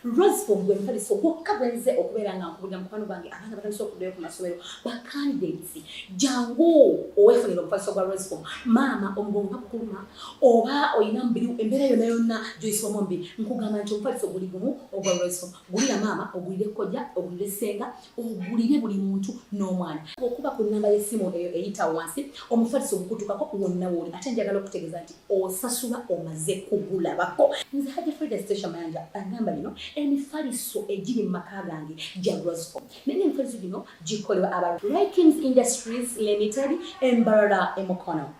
Rosefom gwe mufaliso gwokka gwe nze okubeera nga nkubulira mukwano gwange abaana batandise okuddayo ku masomero ba candidates jangu owefunira omufaliso gwa Rosefom maama omugongo bakukuluma oba olina mubiri embeera yonna yonna gyoyisibwamu omubiri nkugamba nti omufaliso guli gumu ogwa Rosefom gulira maama ogulire kojja ogulire ssenga ogulire buli muntu n'omwana okuba ku nnamba y'essimu eyo eyita wansi omufaliso ogukutukako wonna wooli ate njagala okutegeeza nti osasula omaze kugulabako nze haja frida station mayanja agamba bino emifaliso egiri mu maka gange gya rosco naye emifaliso gino gikolebwa aba rikings industries limited embarara emukono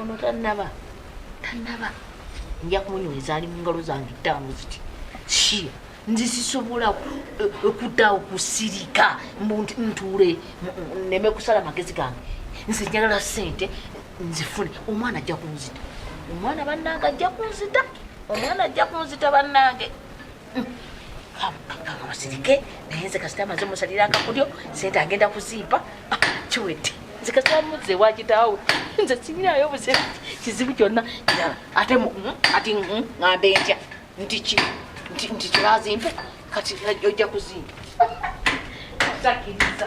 ono tanaba tanaba nja kumunyweza ali mungalo zange ttaano ziti shia nze sisobola eh, okuddawo kusirika ntuule neme kusala magezi gange nze njagala sente nzifune omwana ajja kunzita omwana bannange ajja kunzita omwana ajja kunzita bannange musirike naye nze kasita amaze musalira akakulyo sente agenda kuzimpa ah, kiwedde nze kasita muze wakitaawe nze sibirayo buzibu kizibu kyonna kirala ate hmm, ati hmm, ŋambe ntya nti ki nti kibazimpe kati eh, ojja kuzimpa takiriza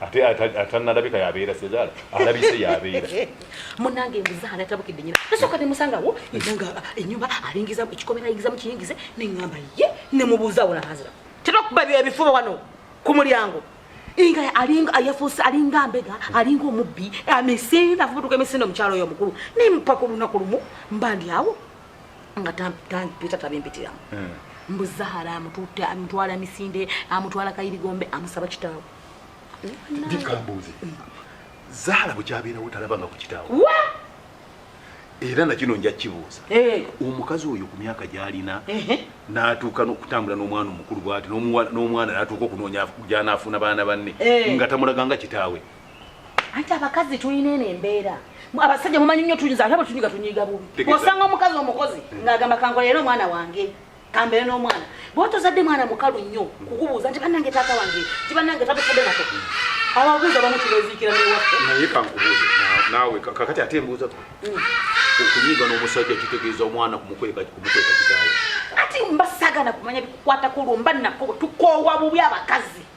ate atanalabika yabeera sezaala alabise yabeera munange mbuzaala tabukidde nyina nasooka nemusangawo enanga enyumba alingiza ekikomera ayingiza mukiyingize neŋamba ye nemubuuzaawo nahazira terakuba byo ebifuba wano ku mulyango inga alinga ayafuuse alinga mbega alinga omubbi amisinde afubutuka emisinde omukyalo oyo omukulu nempa ku lunaku lumu mba ndi awo nga tampita tabimpitiramu hmm. mbuzaala amutute amutwala misinde amutwala kayirigombe amusaba kitaawo ndikambuuze zaala bwekyabeerawo talabanga ku kitaawo era nakino nja kibuuza eh. omukazi oyo ku myaka gyalina natuuka okutambula n'omwana omukulu bwati n'omwana natuuka okunoonya gyanaafuna baana banne eh. nga tamulaganga kitaawe anti abakazi tulina eno embeera abasajja mumanyi nnyo tuyiza ate bwe tunyiga tunyiga bubi osanga omukazi omukozi ng'agamba kankola era omwana wange kambere n'omwana bwotozadde mwana mukalu nnyo kukubuuza nti banange taata wange nti banange tabufudde nako ababuuza bamu tubeziikira newaffe naye kankubuuze naawe kakati ate embuuza mm. okunyiiga n'omusajja kitegeeza omwana kumukweka kumukweka kitaawe ati mbasagana kumanya bikukwatako olwo mba nako tukoowa bubi abakazi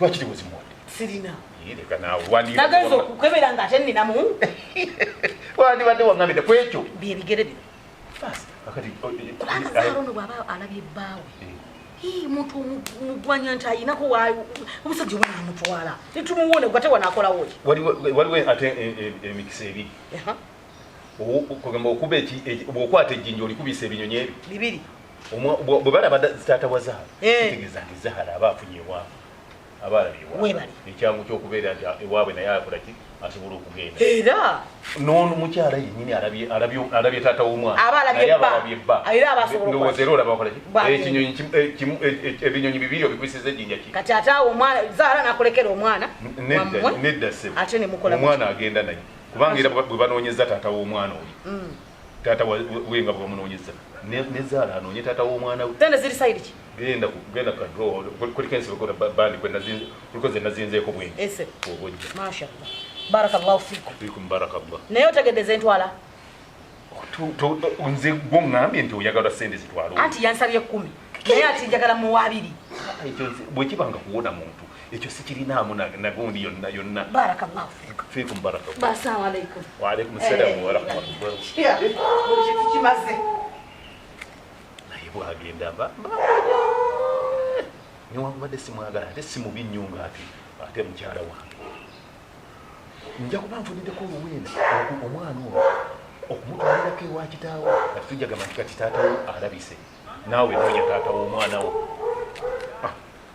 lwaki tewezimuwadde sirina nageza okukebera nga ate ninamu wandibadde waŋamide ku ekyo byebigere bino kubanga arono bwaba alabye ebbaawe eh. muntu omugwanya nti ayinako omusajja oba namutwala netumuwone gate wanakolawo waliwo ate eh, eh, emikisa ebiri kugamba okuba bwokwata ejjinja olikubisa ebinyonyi ebyo bibiri bwe balaba taata wa zahara eh. kitegeeza nti zahara aba afunye ewaabwe aba alabye ewaabwe ekyangu kyokubeera nti ewaabwe naye akola ki asobola okugenda era nono mukyala yenyini alabye taata womwanandowooza era olaba wakola ekinyonyi ebinyonyi bibiri obikwisiza ejinja ki kati ate awo omwana zaala nakulekera omwana nedda sebo omwana agenda naye kubanga era bwe banoonyeza taata womwana oyo mm. taata we nga bwebamunoonyeza ne zaala anoonye taata w'omwana we zana ziri sayidi ki genda genda ku kadro kuliko ensi kuliko bandi kuliko ze nazinzeeko bwenyi ese obojja mashallah barakallahu fikum fikum barakallah naye otegedde zentwala nze gwongambye nti oyagala sente zitwala anti yansabye kumi naye ati njagala muwa abiri bwekibanga kuwona muntu ekyo sikirinaamu nagundi yonna yonna fiikum barakawaalaikum salaamu warahmatullahikimaze naye bwagenda mba newakubadde simwagala ate simubi nnyo nga ati ate mukyala wange nja kuba nfunideko oluwenda omwana oyo okumutwalirako ewa kitaawo ati tujjagamba nti kati taatawo alabise naawe noonya taata w'omwana wo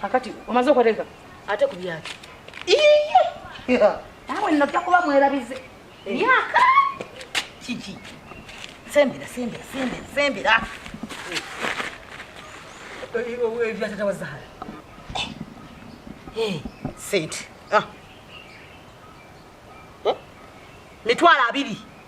kakati omaze okwateka ate ku byaki nawe nojja kuba mwerabize eh. myaka kiki sembera sembera sembera sembera ebyatata wa zahara sente mitwalo abiri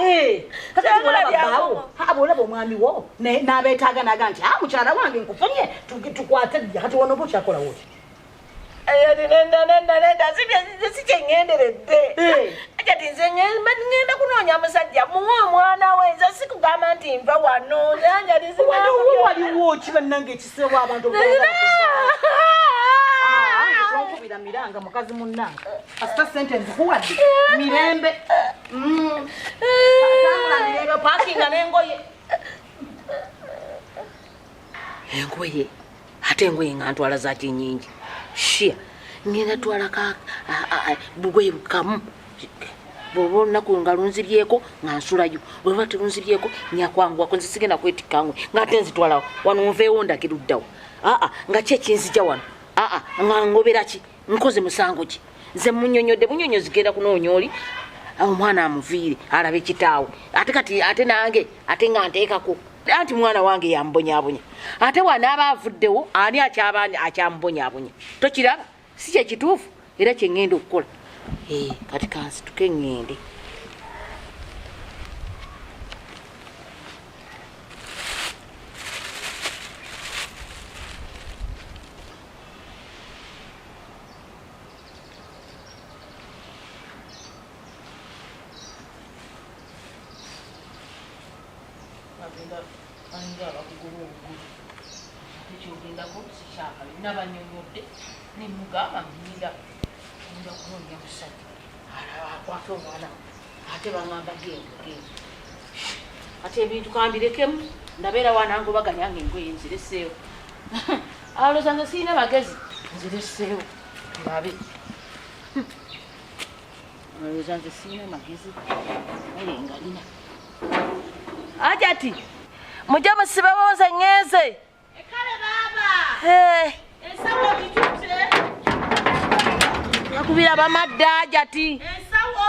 Eh, bwolaba omwami wo n'abeetaaga naga nti a ah, mukyala wange nkufunye tukwate kati wano oba okyakolawo oti sikyengenderedde kati nze ngenda kunoonya musajja muwe omwana we nze sikugamba nti nva wano waliwo ki bannange ekiseewo abantu tonkubira miranga mukazi munnange kasita sente nzikuwadde mirembe Mm. engoye ate engoye nga ntwala zaki nyingi shia ngenda twala ka bugoye bukamu bwoba olunaku nga lunzibyeko nga nsulayo bweba telunzibyeko nyakwanguwako nze sigenda kwetikangwe ngaate nzitwalawo wano nveewo ndagiruddawo aa nga kyekinzija wano aa nga ngoberaki nkoze musango ki nze munyonyode bunyonyo zigenda kunoonya oli omwana amuviire alabe kitaawe ate kati ate nange ate nga nteekako anti mwana wange yambonyabonya ate wanaaba avuddewo ani akyaba akyamubonyabonya tokiraba si kyekituufu era kyeŋŋenda okukola eh, kati kansituke ŋŋende agenda alinga abakugoba obugulu ate kyogendako sikyakabi nabanyonyodde nemugamba ngira nja kunonya musajja akwata omwana ate bangamba genda genda ate ebintu kambirekemu ndabeera wanangobaganya nga engoye nzireseewo aloza nze sirina bagezi nzireseewo babe aloza nze sirina magezi aye ngalina ajati mujja musibewo nze ŋeeze ekale baaba ensawo gitute nakubira bamadda ajati ensawo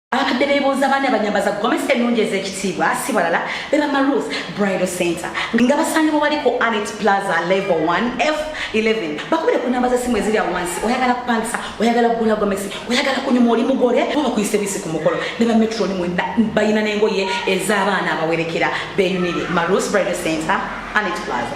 abakadde bebuuza baani abanyambaza gomesa ennungi ez'ekitiibwa si balala be bamaruth bridal center nga basangibwa bali ku anet plaza level 1 f 11 bakubire ku namba z'essimu eziri awo wansi oyagala kupangisa oyagala kugula gomesi oyagala kunyuma oli mugole oba bakuyise bisi ku mukolo ne ba metroni mwenda balina n'engoye ez'abaana abawerekera beyunire maruth bridal center anet plaza